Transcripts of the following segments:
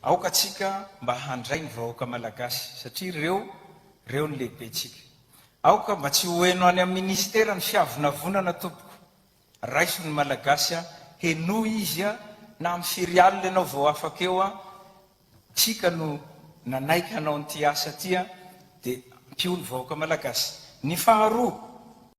Aoka tsika mba handray ny vahoaka malagasy satria ireo reo ny lehibentsika. Aoka mba tsy ho eno any am ministera ny fiavonavonana tompoko. Raiso ny malagasy a, henoy izy a, na am firy alina ianao vao afaka eo a, tsika no nanaiky hanao an'ity asa ty a, de ampio ny vahoaka malagasy. Ny faharoa.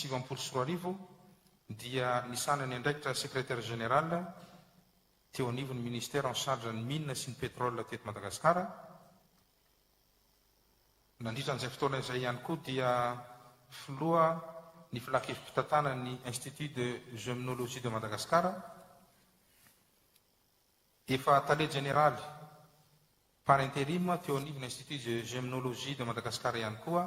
siviampolo sy roa arivo dia nisana ny andraikitra secrétaire général teo anivon'ny ministère en charge ny mines sy ny pétrole teto Madagasikara Nandritra an'izay fotoana izay ihany koa dia filoha ny filankevi-pitantanan'ny Institut de Gemnologie de Madagascar, efa tale jeneraly par interim teo anivon'ny Institut de Gemnologie de Madagascar ihany koa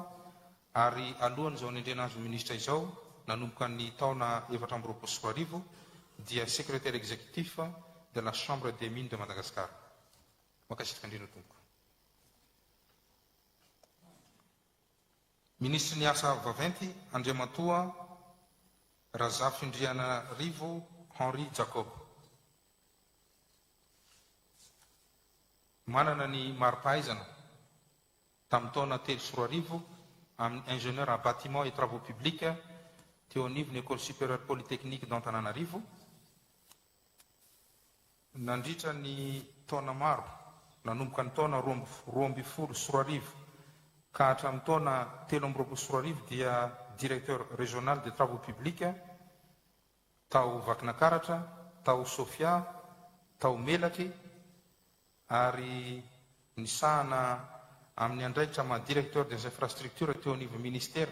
ary alohan'izao anendrena azy ho minisitra izao nanomboka ny taona efatra amby roapolo sy roa arivo dia secrétaire exécutif de la Chambre des Mines de Madagascar. Mankasitraka indrindra tompoko. Ministry ny asa vaventy Andriamatoa Razafindrianarivo Henri Jacob. Manana ny mari-pahaizana tamin'ny taona telo sy roa arivo amin'ny Ingénieur en Bâtiments et Travaux Publics teo anivon'ny École Supérieure Polytechnique d'Antananarivo Nandritra ny taona maro, nanomboka ny taona roa amby roa ambin'ny folo sy roa arivo ka hatramin'ny taona telo amby roapolo sy roa arivo dia Directeur Régional des Travaux Publics tao Vakinakaratra, tao Sofia, tao Melaky ary nisahana amin'ny andraikitra maha Directeur des Infrastructures teo anivon'ny Ministera.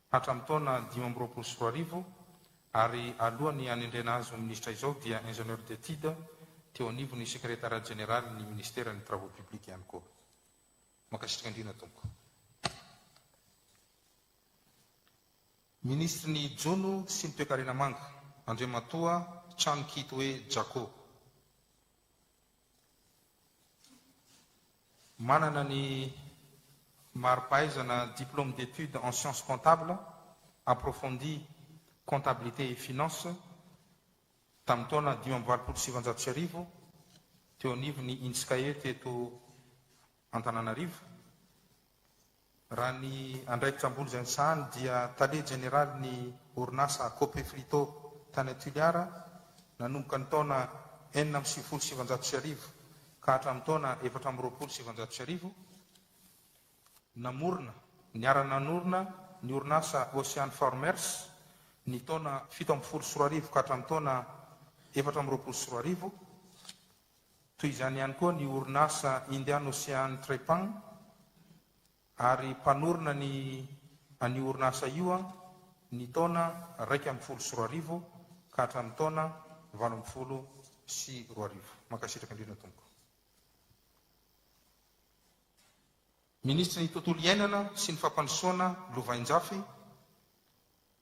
hatramin'ny taona dimy amby roapolo sy roa arivo ary alohan'ny hanendrena azy ho minisitra izao dia Ingénieur d'étude teo anivon'ny Secrétariat Général ny Ministeran'ny Travaux Publics ihany koa. Mankasitraka indrindra Tompoko. Minisitry ny Jono sy ny Toekarena Manga, Andriamatoa Trano Kitoe Jako. Manana ny mari-pahaizana Diplôme d'études en sciences comptables approfondies, Comptabilité et Finances, tamin'ny taona dimy amby valopolo sy sivinjato sy arivo, teo anivon'ny Inskae teto Antananarivo. Raha ny andraikitra ambony izay nisahany dia tale jeneraly ny orinasa Cope Frito tany Tuliara nanomboka ny taona enina amby sivifolo sy sivanjato sy arivo ka hatramin'ny taona efatra amby roapolo sy sivanjato sy arivo namorona, niara-nanorina ny orinasa Ocean Farmers ny taona fito ambin'ny folo sy roa arivo ka hatramin'ny taona efatra amby roapolo sy roa arivo. Toy izany ihany koa ny orinasa Indian Ocean Trepang ary mpanorina ny an'io orinasa io ny taona iraika ambin'ny folo sy roa arivo ka hatramin'ny taona valo ambin'ny folo sy roa arivo. Mankasitraka indrindra tompoko. Minisitry ny Tontolo iainana sy ny Fampandrosoana Lovainjafy,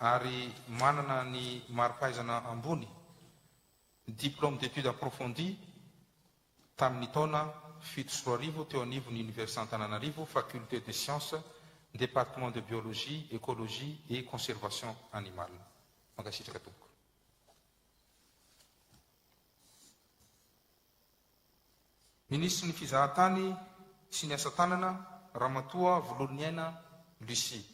ary manana ny mari-pahaizana ambony, diplôme d'études approfondies, tamin'ny taona fito sy roa arivo teo anivon'ny Oniversite Antananarivo, Faculté des Sciences, Département de Biologie, Écologie et Conservation Animale. Mankasitraka tompoko. Minisitry ny Fizahantany sy ny Asa Tanana, Ramatoa Vololoniaina Lucie.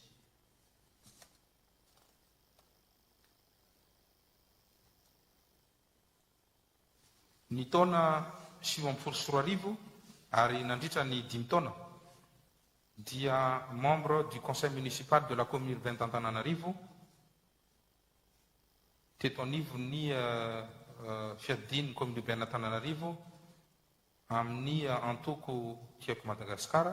ny taona sivy ambin'ny folo sy roa arivo ary nandritra ny dimy taona dia membre du conseil municipal de la commune urbaine d'Antananarivo teto anivon'ny euh, euh, fiadidian'ny commune urbaine Antananarivo amin'ny euh, antoko Tiako Madagasikara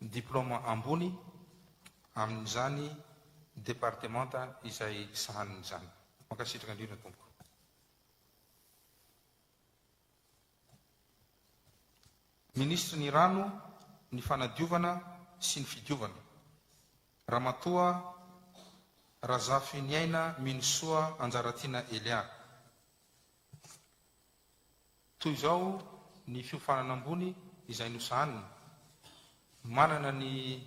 ny diplaoma ambony amin'izany departemanta izay sahaniny izany. Mankasitraka indrindra tompoko. Minisitry ny Rano, ny Fanadiovana sy ny Fidiovana, Ramatoa Razafiniaina Minosoa Anjaratiana Elia. Toy izao ny fiofanana ambony izay nosahanina, Manana ny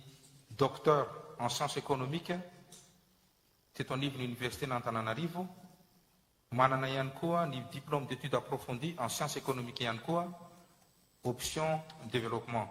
Docteur en sciences économiques teto anivon'ny Oniversiten'Antananarivo, manana ihany koa ny Diplôme d'études approfondies en sciences économiques ihany koa, option développement.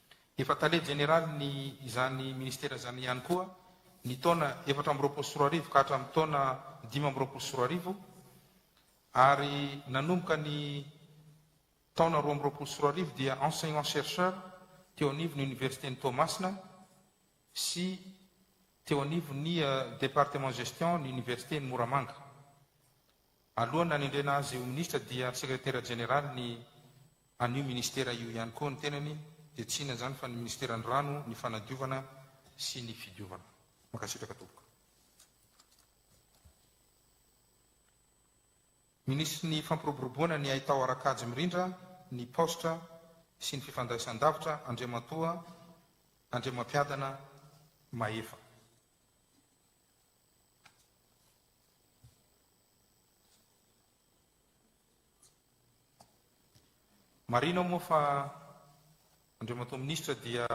Efa tale jeneralin'ny izany minisitera izany ihany koa ny taona efatra amby roapolo sy roa arivo ka hatramin'ny taona dimy amby roapolo sy roa arivo ary nanomboka ny taona roa amby roapolo sy roa arivo dia enseignant chercheur teo anivon'ny oniversiten'i Toamasina sy teo anivon'ny eh, département gestion ny oniversiten'i Moramanga. Alohan'ny nanendrena azy ho minisitra dia sekretera jeneralin'ny An'io ministera io ihany koa ny tenany dia tsy inona izany fa ny ministeran'ny rano, ny fanadiovana sy ny fidiovana. Mankasitraka tompoko. Minisitry ny fampiroboroboana ny haitao ara-kajy mirindra, ny paositra sy ny fifandraisan-davitra Andriamatoa Andriamampiadana Mahefa. Marina moa fa Andriamatoa Minisitra dia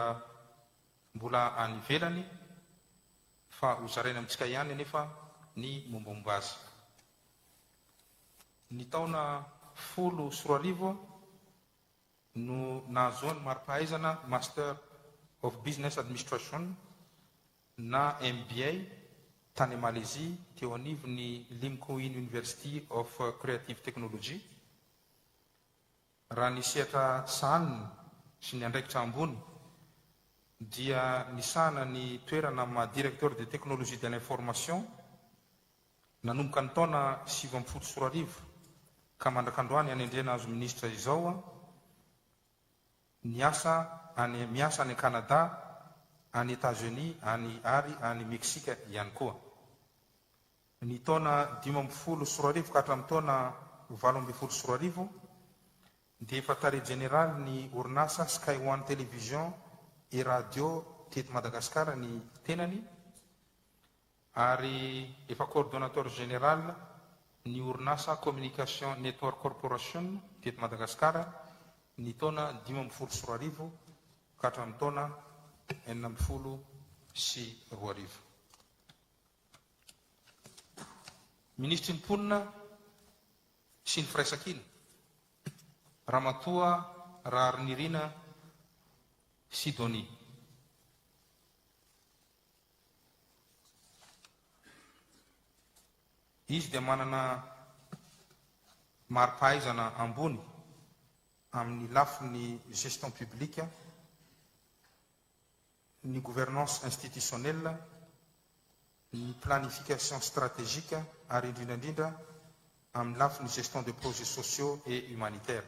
mbola any ivelany fa hozaraina amintsika ihany anefa ny mombamomba azy. Ny taona folo sy roa arivo no nahazoany mari-pahaizana Master of Business Administration na MBA, tany Malezia, teo anivon'ny Lim Koo In University of Creative Technology. Raha ny sehatra sahaniny sy ny andraikitra ambony dia nisahana ny toerana amin'ny maha Directeur des Technologies de l'Information nanomboka ny taona sivy ambin'ny folo sy roa arivo ka mandrak'androany anendrena azy ho Minisitra izao. Niasa any miasa any Canada, any Etats-Unis, any ary any Meksika ihany koa. Ny taona dimy ambin'ny folo sy roa arivo ka hatramin'ny taona valo ambin'ny folo sy roa arivo dia efa tale jeneraly ny orinasa Sky One Television et Radio teto Madagasikara ny tenany. ary efa coordonnateur général ny orinasa Communication Network Corporation teto Madagasikara ny taona dimy ambin'ny folo sy roa arivo ka hatramin'ny taona enina ambin'ny folo sy roa arivo. Minisitry ny Mponina sy ny Firaisankina, Ramatoa Raharinirina Sidonie. Izy dia manana mari-pahaizana ambony amin'ny lafiny gestion publique, ny gouvernance institutionnelle, ny planification stratégique ary indrindra indrindra amin'ny lafiny gestion de projets sociaux et humanitaires.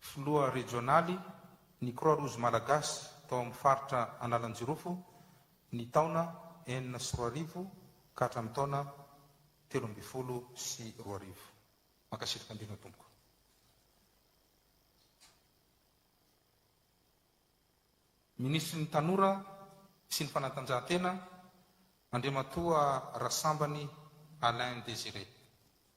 Filoha rejionaly ny Croix Rouge Malagasy tao amin'ny faritra Analanjirofo ny taona enina sy roa arivo ka hatramin'ny taona telo ambin'ny folo sy roa arivo. Mankasitraka indrindra tompoko. Minisitry ny Tanora sy ny Fanatanjahantena, Andriamatoa Rasambany Alain Désiré.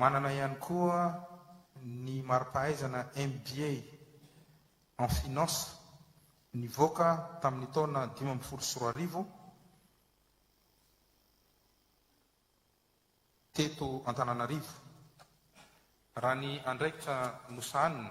Manana ihany koa ny mari-pahaizana MBA en finance nivoaka tamin'ny taona dimy ambin'ny folo sy roa arivo teto Antananarivo. Raha ny andraikitra nosahaniny,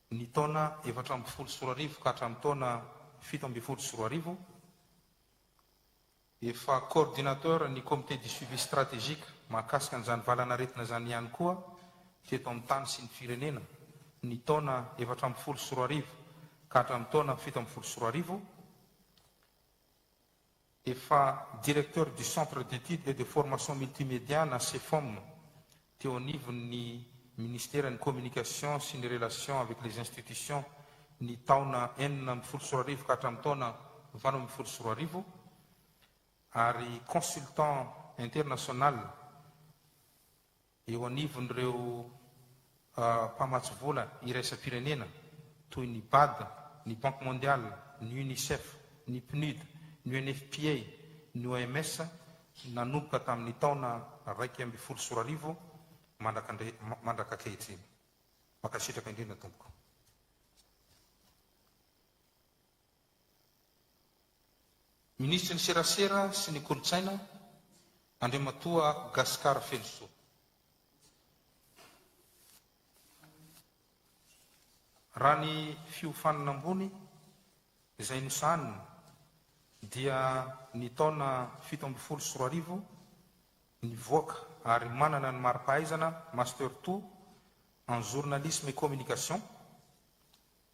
Ny taona efatra ambin'ny folo sy roa arivo ka hatramin'ny taona fito ambin'ny folo sy roa arivo, efa coordinateur ny Comité du suivi stratégique mahakasika an'izany valanaretina izany ihany koa teto amin'ny tany sy ny firenena ny taona efatra ambin'ny folo sy roa arivo ka hatramin'ny taona fito ambin'ny folo sy roa arivo, Efa Directeur du Centre d'Etudes et de Formation Multimédia na Cefom teo anivon'ny Ministeran'ny Communication sy ny Relations avec les Institutions ny taona enina ambin'ny folo sy roa arivo ka hatramin'ny taona valo ambin'ny folo sy roa arivo ary Consultant International Eo anivon'ireo mpamatsy vola iraisam-pirenena toy ny Bad, ny Banque Mondiale, ny Unicef, ny Pnud, ny UNFPA, ny OMS nanomboka tamin'ny taona iraika ambin'ny folo sy roa arivo mandraka ankehitriny. Mankasitraka indrindra tompoko. Minisitry ny Serasera sy ny Kolontsaina, Andriamatoa Gascar Felosoa. Raha ny fiofanana ambony izay nosahanina dia ny taona fito ambin'ny folo sy roa arivo nivoaka ary manana ny mari-pahaizana Master ii en journalisme et communication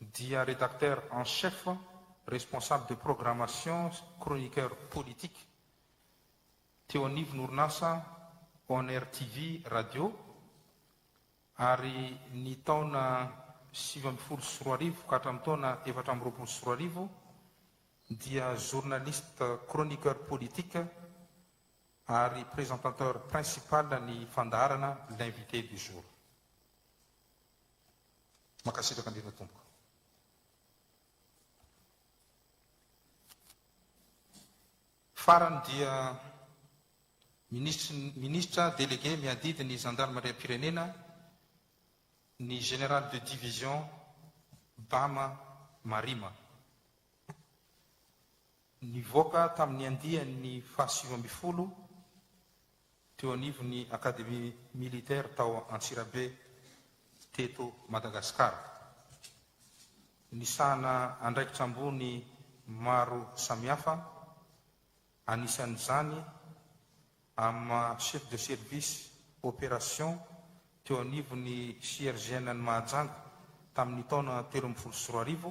dia Rédacteur en chef, Responsable de programmation sy Chroniqueur politique teo anivon'orinasa On Air TV Radio ary ny taona sivy ambin'ny folo sy roa arivo ka hatramin'ny taona efatra amby roapolo sy roa arivo dia Journaliste Chroniqueur politique ary Présentateur principal ny fandaharana L'invité du jour. Mankasitraka indrindra tompoko. Farany dia Minisitry Minisitra Délégué miadidy ny Zandarimariam-pirenena ny Général de Division Bama Marima. Nivoaka tamin'ny andiany fahasivy ambin'ny folo teo anivon'ny Académie militaire tao Antsirabe teto Madagasikara. Nisahana andraikitra ambony maro samihafa, anisan'izany amin'ny maha Chef de Service Opération teo anivon'ny CRGN-n'i Mahajanga tamin'ny taona telo ambin'ny folo sy roa arivo,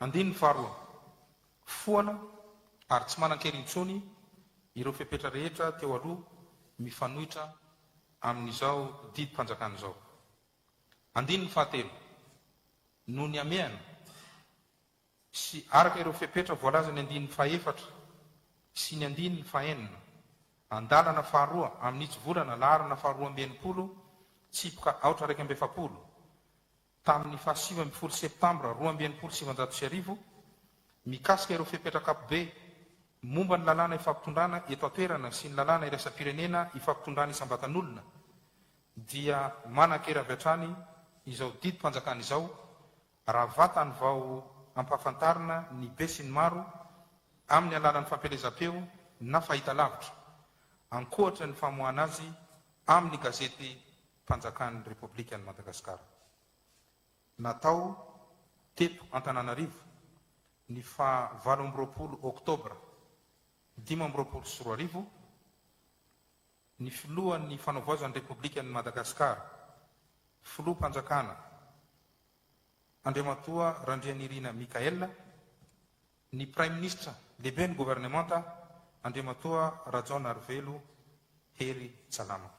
Andininy faharoa, Foana ary tsy manan-kery intsony ireo fepetra rehetra teo aloha mifanohitra amin'izao didim-panjakana izao. Andininy fahatelo, Noho ny hamehana sy araka ireo fepetra voalazan'ny andininy fahefatra sy ny andininy fahenina, andalana faharoa amin'ny hitsivolana laharana faharoa amby enimpolo, tsipoka aotra iraika amby efapolo, tamin'ny faha sivy ambin'ny folo Septambra roa amby enimpolo sy sivanjato sy arivo mikasika ireo fepetra ankapobe momba ny lalàna ifampitondrana eto an-toerana sy ny lalàna iraisam-pirenena ifampitondrana isam-batan'olona dia manan-kery avy hatrany izao didim-panjakana izao raha vatany vao ampahafantarina ny besinimaro amin'ny alalan'ny fampielezam-peo na fahitalavitra ankoatra ny famoahana azy amin'ny gazety Fanjakan'ny Repoblikan'i Madagasikara. Natao teto Antananarivo ny faha valo amby roapolo Oktobra dimy amby roapolo sy roa arivo ny Filohan'ny Fanaovoazan'ny Repoblikan'i Madagasikara, Filoham-panjakana Andriamatoa Randrianirina Michaël, ny Praiminisitra Lehiben'ny Governemanta Andriamatoa Rajaonarivelo Hery Tsalama.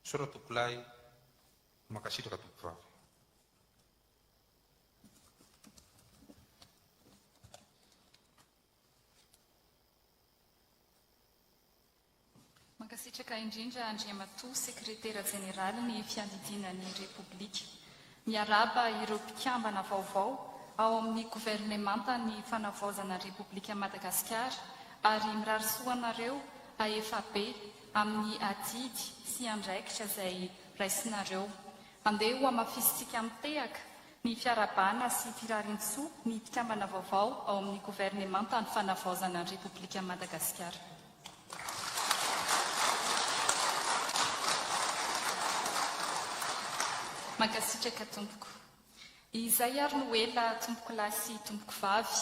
Misaotra tompoko lahy, mankasitraka tompoko vavy. Mankasitraka indrindra Andriamatoa Sekretera Jeneralin'ny Fiadidiana ny Repoblika. Miarahaba ireo mpikambana vaovao ao amin'ny governemantan'ny fanavaozana Repoblikan'i Madagasikara ary mirary soa anareo ahefa be amin'ny adidy sy andraikitra izay raisinareo. Andeha hohamafisintsika mitehaka ny fiarahabana sy firariantsoa ny mpikambana vaovao ao amin'ny governemantan'ny fanavaozana Repoblikan'i Madagasikara. Mankasitraka tompoko. Izay ary no ela tompokolahy sy tompokovavy,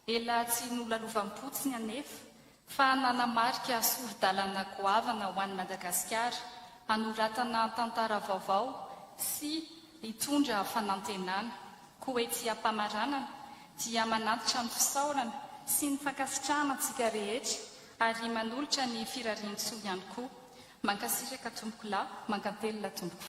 ela tsy nolalovam-potsiny anefa fa nanamarika sori-dalana goavana ho an'i Madagasikara hanoratana tantara vaovao sy hitondra fanantenana. Koa ety am-pamaranana dia manantitra ny fisaorana sy ny fankasitrahana antsika rehetra ary manolotra ny firariantsoa ihany koa. Mankasitraka tompokolahy, mankatelina tompoko.